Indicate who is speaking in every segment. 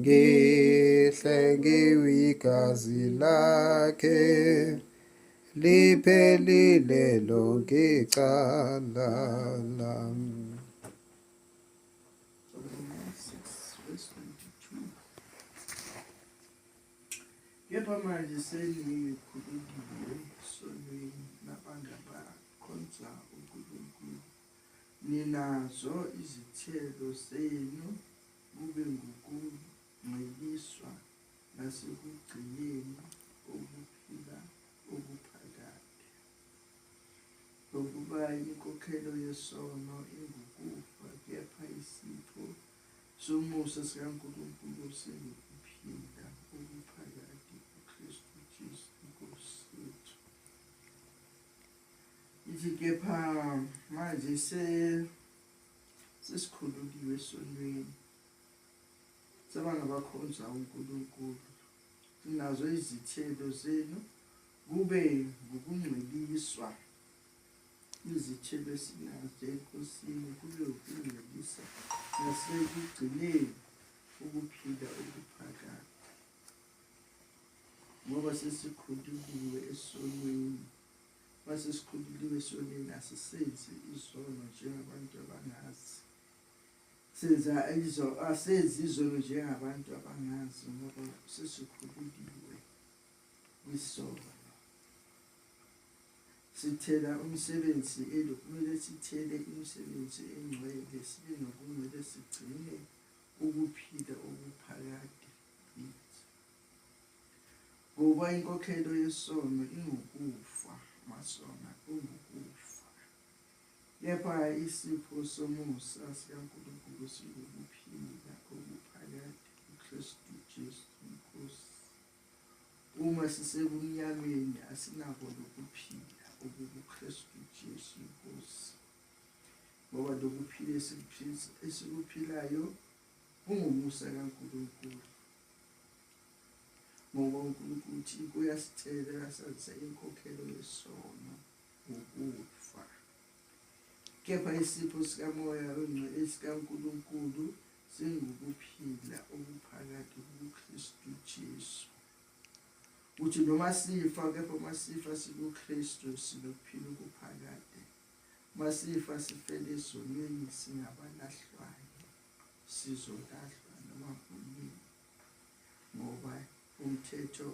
Speaker 1: Ngihle ngiwigazi lakhe liphelile lonke icala lami.
Speaker 2: Kepha manje senikhulekile sonweni nabangabakhonza uNkulunkulu, ninazo izithelo zenu. kube ngukungcweliswa nasekugcineni kokuphila okuphakade. Nokuba inkokhelo yesono ingukufa, kepha isipho somusa sikaNkulunkulu singukuphila okuphakade kuKristu Jesu iNkosi yethu. Ithi kepha manje se sesikhululiwe esontweni sebangabakhonza uNkulunkulu sinazo izithelo zenu kube ngokungcweliswa izithelo esinazo enkosini kube ukungcwelisa nasekugcineni ukuphila okuphakade ngoba sesikhululiwe esonweni Mase sikhululiwe esonweni asisenzi izono njengabantu abangazi. Senza izo asenzi izono njengabantu abangazi ngoba sesikhululiwe kwisono. Sithela umsebenzi elo kumele sithele imisebenzi engcwele sibe nokungcwele sigcine ukuphila okuphakade. Ngoba inkokhelo yesono ingukufa, amasona kungukufa. Kepha isipho somusa sikaNkulunkulu singukuphila okuphakade kuKristu Jesu iNkosi. Uma sisebumnyameni asinako lokuphila okukuKristu Jesu iNkosi. Ngoba lokuphila esikuphilayo kungumusa kaNkulunkulu. ngoba uNkulunkulu uthi kuyasicela asazise inkokhelo yesono ukufa kepha isipho sikamoya ongcwele sikaNkulunkulu singukuphila okuphakathi kuKristu Jesu uthi noma sifa kepha uma sifa sikuKristu sinokuphila okuphakade uma sifa sifele ezonweni singabalahlwayo sizolahlwa noma kunini ngoba umthetho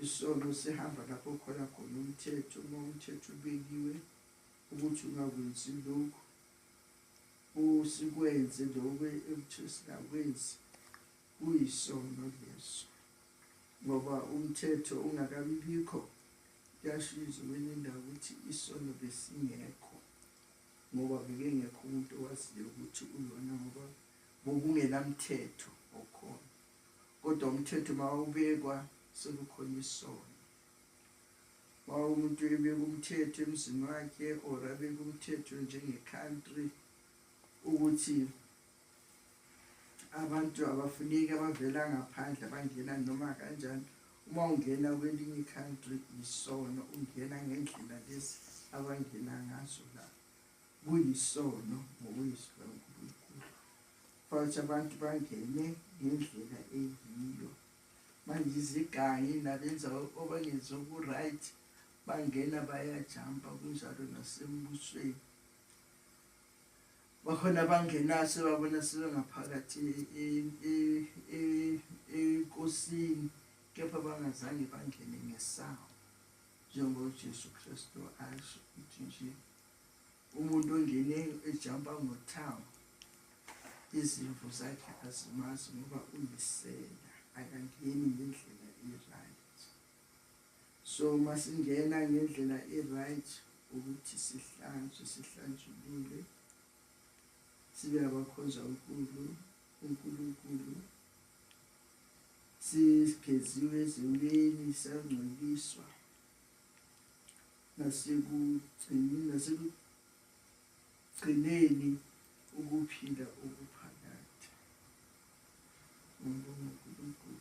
Speaker 2: isono sihamba lapho khona khona umthetho uma umthetho ubekiwe ukuthi ungakwenzi lokhu usikwenze lokhu ekuthiwa singakwenzi kuyisono leso ngoba umthetho ungakabibikho kuyashiza kwenye indawo ukuthi isono besingekho ngoba bekengekho umuntu owaziyo ukuthi uyona ngoba bokungenamthetho okhona kodwa umthetho mawubekwa sekukhona isono wawumuntu ebeka umthetho emzini wakhe or abeka umthetho njenge-country ukuthi abantu abafuneki abavela ngaphandle abangena noma kanjani uma ungena kwelinye i-country yisono ungena ngendlela lezi abangena ngazo la kuyisono ngokwezwi lankulunkulu futhi abantu bangene ngendlela eyiyo manje izigangi nabenza obangenzi oku-right bangena bayajampa kunjalo nasembusweni bakhona abangenaso babona sebengaphakathi enkosini kepha bangazange bangene ngesango njengoba uJesu Kristu asho ukuthi nje umuntu ongene ejampa ngothango izimvu zakhe azimazi ngoba uyisela akangeni ngendlela So masingena ngendlela e-right ukuthi sihlanzwe sihlanjulule sibe abakhonza uNkulu uNkulunkulu sigeziwe ezimini sangcweliswa nasekugcini nasekugcineni ukuphila okuphakade. Ngibonga uNkulunkulu.